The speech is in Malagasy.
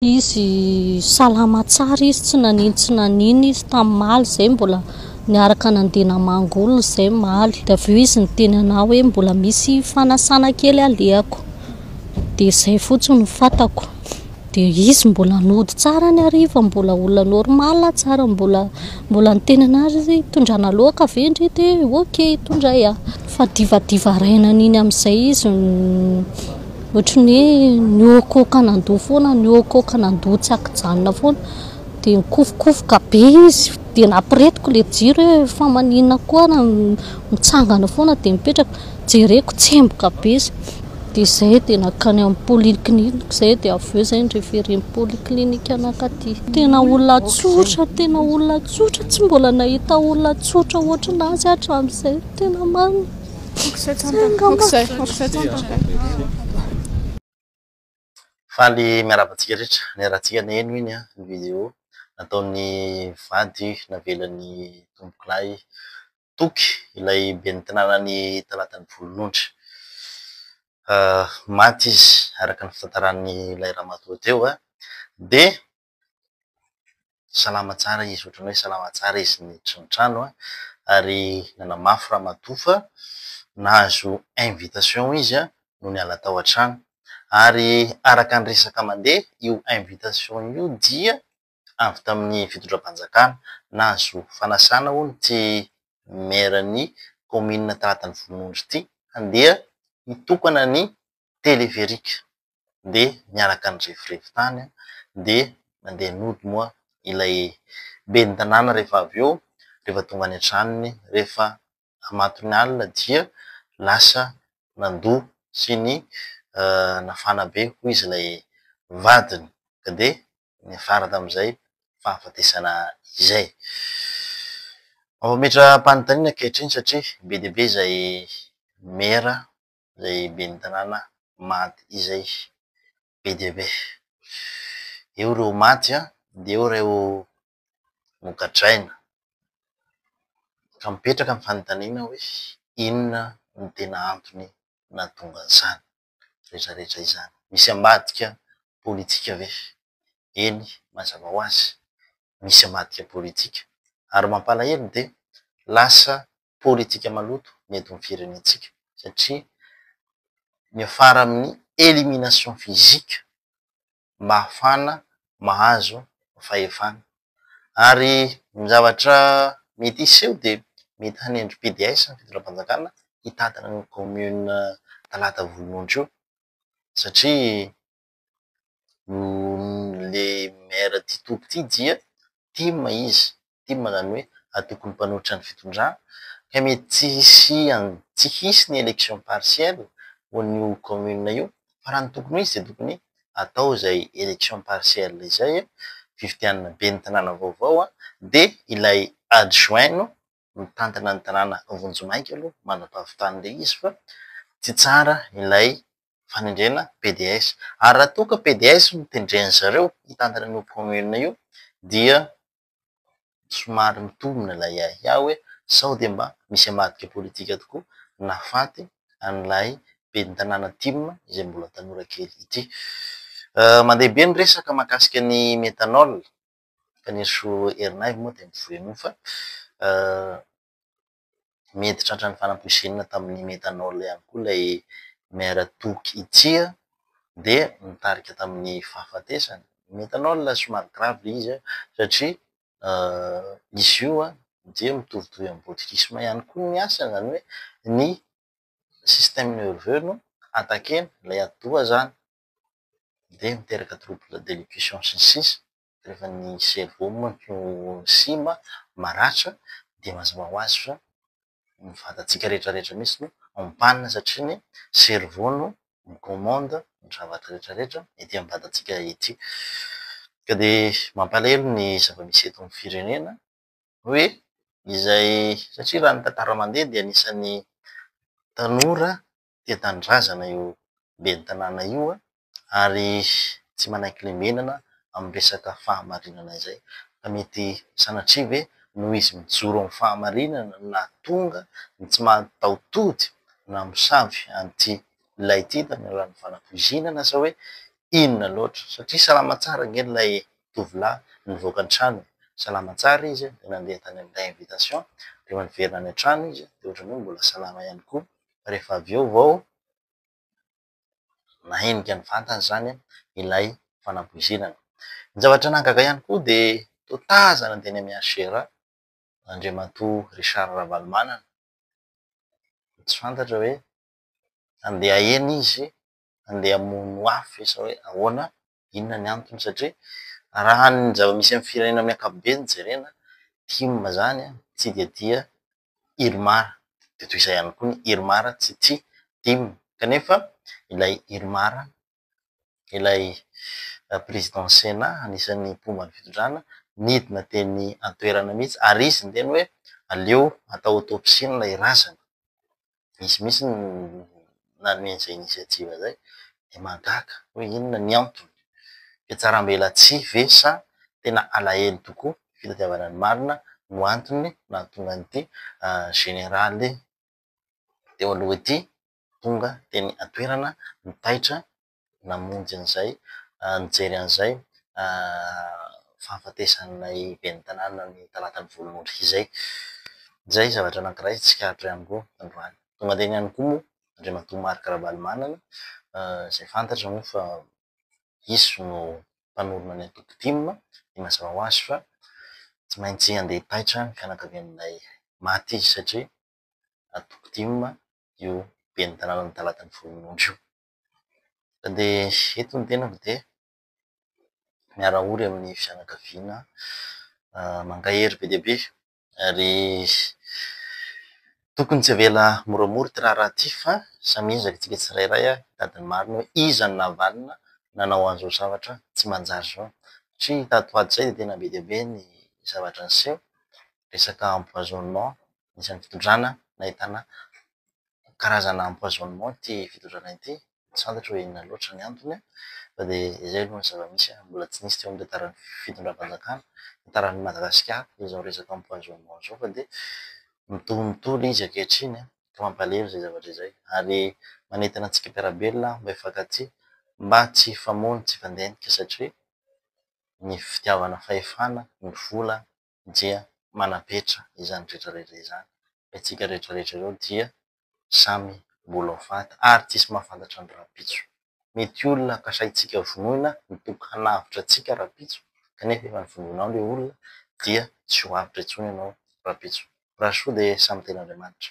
Izy salama tsara izy tsy nanino tsy nanino izy tam maly zay mbola niaraka nandeha namangy olona zay maly de avy eo izy niteny anah hoe mbola misy fanasana kely alehako de zay fotsiny no fatako de izy mbola nody tsara ny hariva mbola olona normal tsara mbola mbola niteny anah ry zay tondrana loaka ve ndry de ok tondray ah fa divadiva ray naniny amizay izy no. Ohatry ny hoe nihoakoaka nandoa foana, nihoakoaka nandoa tsy an-kijanona foana. Dia nikofokofoka be izy, dia nampiretiko ilay jiro hoe fa maninona koa ary mitsangana foana dia mipetraka. Jereko tsemboka be izy. Dia izay dia nankany amin'ny polyclinique izay dia avy eo izay ni-referen-dry polyclinique anaka aty. Tena olona tsotra, tena olona tsotra, tsy mbola nahita olona tsotra ohatran'azy aho hatramin'izay, tena marina. Faly miarahaba antsika rehetra, niarahantsika niheno iny an ny video nataon'ny vady navelan'ny tompokolahy toky ilay ben'ny tanàna ny talatan'ny volonondry. Maty izy araka ny fitantaran'ilay ramatoa teo dia Salama tsara izy, ohatran'ny hoe salama tsara izy niditra ny trano an, ary nanamafy ramatoa fa nahazo invitation izy an, no niala tao an-trano. Ary araka ny resaka mandeha, io invitation io dia avy tamin'ny fitondram-panjakana. Nahazo fanasana hono ity maire-n'ny kaominina Taratanivolonondry ity handeha hitokana ny téléphérique dia miaraka nirevirevy tany dia nandeha nody moa ilay ben'ny tanàna rehefa avy eo, rehefa tonga any an-tranony rehefa matin'ny alina dia lasa nandoa sy ny nafana be hoy izy ilay vadiny ka dia niafara tamin'izay fahafatesana izay. Mametra-panontaniana ankehitriny satria be dia be izay maire izay ben'ny tanàna Mady izay be dia be. Eo ireo Mady an, dia eo ireo nogadraina. Ka mipetraka ny fanontaniana hoe inona no tena antony nahatonga an'izany rehetra rehetra izany? Misy ambadika politika ve? Eny, mazava ho azy, misy ambadika politika. Ary mampalahelo dia lasa politika maloto ny eto amin'ny firenentsika satria miafara amin'ny elimination physique mba hahafahana mahazo fahefana. Ary ny zavatra mety hiseho dia mety hanendry PDS ny fitondram-panjakana hitantana ny commune Talata Volonondry io satria le maire ty toby ty dia tim izy, tim zany hoe atoko ny mpanohitra ny fitondrana ka mety tsy hisian tsy hisy ny election partielle ho an'io commune io fa raha ny tokony ho izy dia tokony atao izay election partielle izay fifidianana ben'ny tanàna vaovao dia ilay adjoint no mitantana ny tanàna vonjimaika aloha manam-pahavitany ilay izy fa tsy tsara ilay fanendrena PDS. Ary raha toa ka PDS no tendren'ny zareo hitantana an'io commune io dia somary mitombina ilay ahiahy hoe sao dia mba misy ambadika politika tokoa nahafaty an'ilay ben'ny tanàna tim izay mbola tanora kely ity. Mandeha be ny resaka mahakasika ny methanol. Kaneso Ernaivo moa dia mivoy an'io fa mety tratran'ny fanampoizinina tamin'ny methanol ihany koa ilay Maire Toky ity dia nitarika tamin'ny fahafatesany. Ny methanol somary grave ilay izy satria izy io dia mitovitovy amin'ny botulisme ihany koa ny asany izany hoe ny système nerveux no attaquer-na, ilay atidoha izany. dia miteraka trouble d'élocution sy ny sisa rehefa ny cerveau manko no simba, maratra dia mazava ho azy fa ny vatantsika rehetrarehetra mihitsy no ampanina satria ny cerveau no mi commande ny zavatra rehetrarehetra ety amin'ny vatantsika ety. Ka dia mampalahelo ny zava-misy eto amin'ny firenena hoe izay satria raha ny tantara mandeha dia anisan'ny tanora tia tanindrazana io ben'ny tanàna io ary tsy manaiky lembenana amin'ny resaka fahamarinana izay. Ka mety sanatria ve noho izy mijoro amin'ny fahamarinana no nahatonga ny tsy mataho-tody namosavy an'ity lehilahy ity tamin'ny alalan'ny fanapoizinana sa hoe inona loatra? Satria salama tsara ange ilay tovolahy nivoaka an-tranony, salama tsara izy dia nandeha tany amin'ilay invitation dia niverina any an-trano izy dia ohatran'ny hoe mbola salama ihany koa. rehefa avy eo vao nahenika ny vantany izany ilay fanapoizinana. Ny zavatra nahagaga ihany koa dia toa tazana teny amin'ny HCR Andriamatoa Richard Ravalomanana. Tsy fantatra hoe handeha eny izy handeha hamono afo ve sa hoe ahoana, inona ny antony satria raha ny zava-misy amin'ny firenena amin'ny ankapobeny jerena, tim izany tsy dia tia Irmar, dia toy izay ihany koa ny Irmar tsy tia Dim, kanefa ilay Irmar, ilay président Sénat anisan'ny mpomba ny fitondrana, nidina teny an-toerana mihitsy ary izy niteny hoe aleo atao autopsie-ny ilay razana. misy mihitsy ny nanome an'izay initiative izay dia mahagaga hoe inona ny antony? Fihatsarambelatsihy ve sa tena alahelo tokoa ny fitadiavana ny marina no antony nahatonga an'ity Général teo aloha ity tonga teny an-toerana nitaitra namonjy an'izay, nijery an'izay fahafatesan'ilay ben'ny tanàna ny talatan'ny volonondry izay. Izay zavatra anankiray tsikaritra ihany koa androany. Nomandainy ihany koa moa Andriamatoa Marc Ravalomanana izay fantatra moa fa izy no mpanorina ny antoko tim dia mazava ho azy fa tsy maintsy handeha hipaitra ny fianakavian'ilay maty izy satria antoko tim io ben'ny tanànan'ny talatan'ny volonondry io. Mandeha eto ny tenako dia miara-ory amin'ny fianakaviana mankahery be dia be ary tokony tsy avela moramora ity raharaha ity fa samy miezaka isika tsirairay hitady ny marina hoe iza no navalona nanao an'izao zavatra tsy manjary izao satria tato ho ato izay dia tena be dia be ny zavatra niseho, resaka empoisonnement anisan'ny fitondrana nahitana karazana empoisonnement ity fitondrana ity, tsy fantatro hoe inona loatra ny antony fa dia izay aloha ny zava-misy, mbola tsy nisy teo amin'ny tantaran'ny fitondram-panjakana, tantaran'i Madagasikara izao resaka empoisonnement izao fa dia mitohy mitohy izy ankehitriny ka mampalahelo izay zavatra izay ary manentana antsika mpiara-belona mba hifankatia mba tsy hifamono, tsy hifandeha adika satria ny fitiavana fahefana no vola. dia manapetra izany rehetra rehetra izany fa itsika rehetra rehetra ireo dia samy mbola ho faty ary tsisy mahafantatra ny rahampitso. Mety olona kasaintsika vonoina mitoky hanavotra antsika rahampitso kanefa efa novonoinao ilay olona dia tsy ho avotra intsony ianao rahampitso. Raha soa dia samy tenin'Andriamanitra.